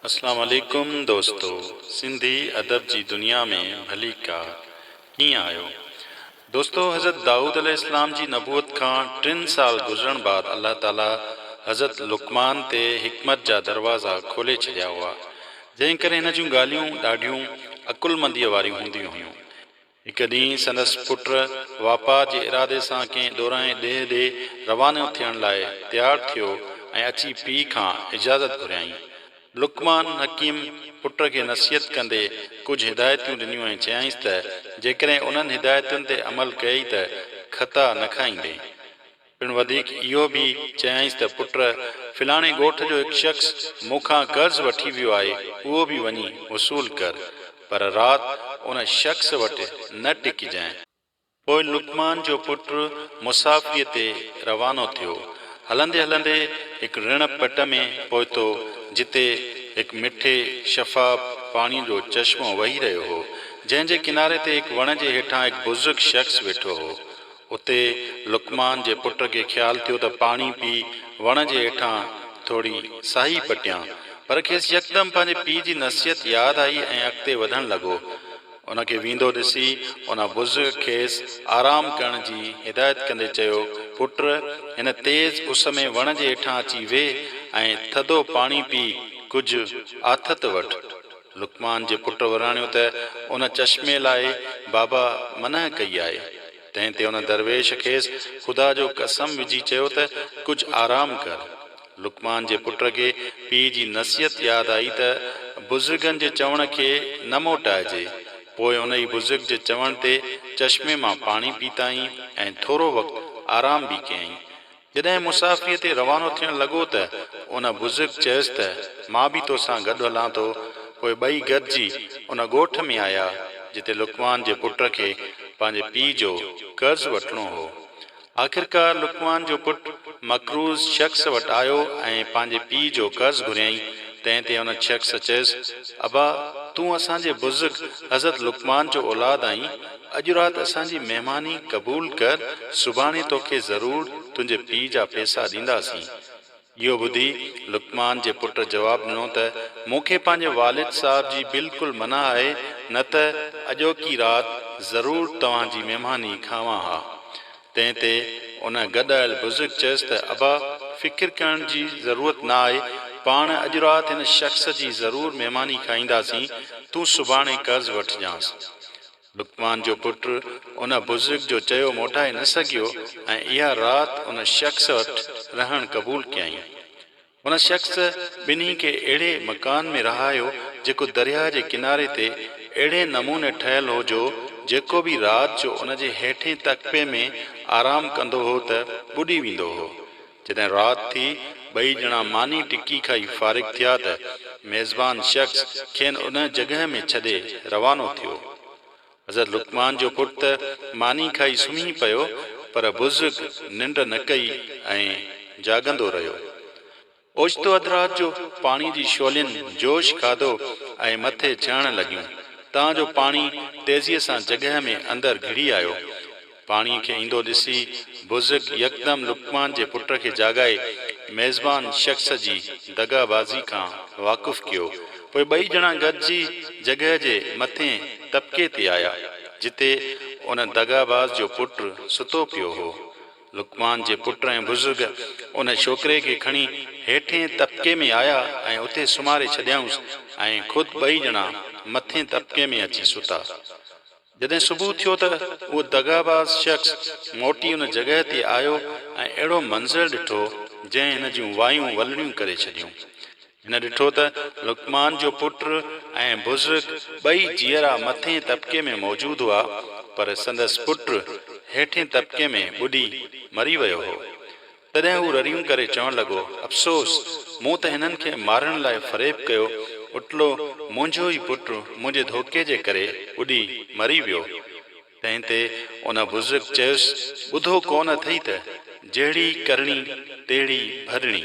اسلام عليڪم دوستو سنڌي ادب جي دنيا ۾ ڀليڪا ڪيئن آهيو دوستو حضرت دائود عليه السلام جي نبوت کان ٽن سال گذرڻ بعد الله تعالي حضرت لقمان تي حڪمت جا دروازا کولي ڇڏيا هئا جنهن ڪري هن جون ڳالهيون ڏاڍيون عقلمنديء واريون هونديون هيون هڪ ڏينهن سندس پٽ واپار جي ارادي سان ڪنهن ڏورانهين ڏيهه ڏي روانو ٿيڻ لاء تيار ٿيو ۽ اچي پيء کان اجازت گهريائين. لقمان حڪيم پٽ کي نصيحت ڪندي ڪجهه هدايتيون ڏنيون ۽ چيائينس ته جيڪڏهن انهن هدايتن تي عمل ڪيئي ته خطا نه کائيندين. پڻ وڌيڪ اهو به چيائينس ته پٽ فلاڻي ڳوٺ جو هڪ شخص مون کان قرض وٺي ويو آهي، اهو به وڃي وصول ڪر، پر رات ان شخص وٽ نه ٽڪجانء. پوء لقمان جو پٽ مسافريء تي روانو ٿيو. هلندي هلندي هڪ رڻ پٽ ۾ پهتو، جتي هڪ مٺي شفاف پاڻيء جو چشمو وهي رهيو هو، جنهن جي ڪناري تي هڪ وڻ جي هيٺان هڪ بزرگ شخص ويٺو هو. اتي لقمان جي پٽ کي خيال ٿيو ته پاڻي پي وڻ جي هيٺان ٿوري ساهي پٽيان. پر کيس يڪدم پنهنجي پيء جي نصيحت ياد آئي ۽ اڳتي وڌڻ لڳو. ان کي ويندو ڏسي ان بزرگ کيس آرام ڪرڻ جي هدايت ڪندي چيو، پٽ! هن تيز اس ۾ وڻ جي هيٺان اچي ويهه ۽ ٿڌو پاڻي پي ڪجهه آٿت وٺ. لقمان جي پٽ وراڻيو ته ان چشمي لاء بابا منع ڪئي آهي. تنهن تي ان درويش کيس خدا جو قسم وجهي چيو ته ڪجهه آرام ڪر. لقمان جي پٽ کي پيء جي نصيحت ياد آئي ته بزرگن جي چوڻ کي نه موٽائجي. پوء ان ئي بزرگ جي چوڻ تي چشمي مان پاڻي پيتائين ۽ ٿورو وقت آرام به ڪيائين. جڏهن مصافيء تي روانو ٿيڻ لڳو ته ان بزرگ چيس ته مان به تو سان گڏ هلان ٿو. پوء ٻئي گڏجي ان ڳوٺ ۾ آيا، جتي لقمان جي پٽ کي پنهنجي پيء جو قرض وٺڻو هو. آخرڪار لقمان جو پٽ مقروض شخص وٽ آيو ۽ پنهنجي پيء جو قرض گهريائين، تنهن تي ان شخص چيس، ابا، تون اسان جي بزرگ حضرت لقمان جو اولاد آهين، اڄ رات اسان جي مهماني قبول ڪر، سڀاڻي توکي ضرور تنهنجي پيء جا پيسا ڏينداسين. اهو ٻڌي لقمان جي پٽ جواب ڏنو ته، مون کي پنهنجي والد صاحب جي بلڪل منع آهي، نه ته اڄوڪي رات ضرور توهان جي مهماني کاوان ها. تنهن تي ان گڏايل بزرگ چيس ته، ابا! فڪر ڪرڻ جي ضرورت نه آهي، پاڻ اڄ رات هن شخص جي ضرور مهماني کائينداسين، تون سڀاڻي قرض وٺجانس. لقمان جو پٽ ان بزرگ جو چيو موٽائي نه سگهيو ۽ اها رات ان شخص وٽ رهڻ قبول ڪيائين. ان شخص ٻنهي کي اهڙي مڪان ۾ رهايو جيڪو درياهه جي ڪناري تي اهڙي نموني ٺهيل هو جو جيڪو به رات جو ان جي هيٺين تڪپي ۾ آرام ڪندو هو ته ٻڏي ويندو هو. جڏهن رات ٿي، ٻئي ڄڻا ماني ٽڪي کائي فارغ ٿيا ته ميزبان شخص کين ان جڳهه ۾ ڇڏي روانو ٿيو. حضرت لقمان جو پٽ ته ماني کائي سمهي پيو پر بزرگ ننڊ نه ڪئي ۽ جاڳندو رهيو. اوچتو اڌ رات جو پاڻي جي شعلين جوش کاڌو ۽ مٿي چهڻ لڳيون تان جو پاڻي تيزيء سان جڳهه ۾ اندر گهڙي آيو. پاڻيء کي ايندو ڏسي بزرگ يڪدم لقمان جي پٽ کي جاڳائي ميزبان شخص جي دغا بازي کان واقف ڪيو. پوء ٻئي ڄڻا گڏجي جڳهه جي مٿين طبقي تي آيا، جتي ان دغا باز جو پٽ ستو پيو هو. لقمان جي پٽ ۽ بزرگ ان ڇوڪري کي کڻي هيٺين طبقي ۾ آيا ۽ اتي سمهاري ڇڏيائونس ۽ خود ٻئي ڄڻا مٿين طبقي ۾ اچي ستا. جڏهن صبح ٿيو ته اهو دغاباز شخص موٽي ان جڳهه تي آيو ۽ اهڙو منظر ڏٺو جنهن هن جون وايون ولڙيون ڪري ڇڏيون. هن ڏٺو ته لقمان جو پٽ ۽ بزرگ ٻئي جيئرا مٿئين طبقي ۾ موجود هئا پر سندس پٽ هيٺئين طبقي ۾ ٻڏي مري ويو هو. تڏهن هو رڙيون ڪري چوڻ لڳو، افسوس! مون ته هنن کي مارڻ لاء فريب ڪيو، اٽلو منهنجو ئي پٽ منهنجي ڌوڪي جي ڪري ٻڏي مري ويو. تنهن تي ان بزرگ چيس، ٻڌو ڪونه اٿئي ته، جهڙي ڪرڻي، تهڙي ڀرڻي.